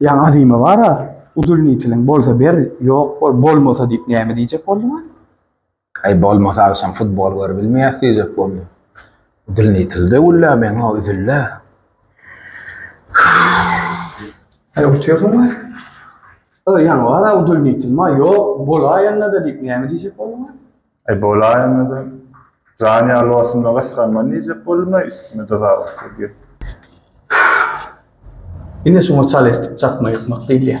Ýa azymy bara udulnitiliň bolsa ber ýok bol bolmasa diýip näme diýjek bolduňa. Aý bolmasa agşam futbol görübilmeýäs diýjek boldum. Udulnitilde güllä meň o üzüllä. Aý oturdyň we Ýa ýaňy bara udulnitilma ýok bolaýanda-da diýip näme diýjek bolduňa. Aý bolaý onda-da. Jan ýalwasynda gysganman diýjek boldum-laý üstüme dozabak gelýär. Ine şuňa çal eşdik çakma ýykmak diýilýär.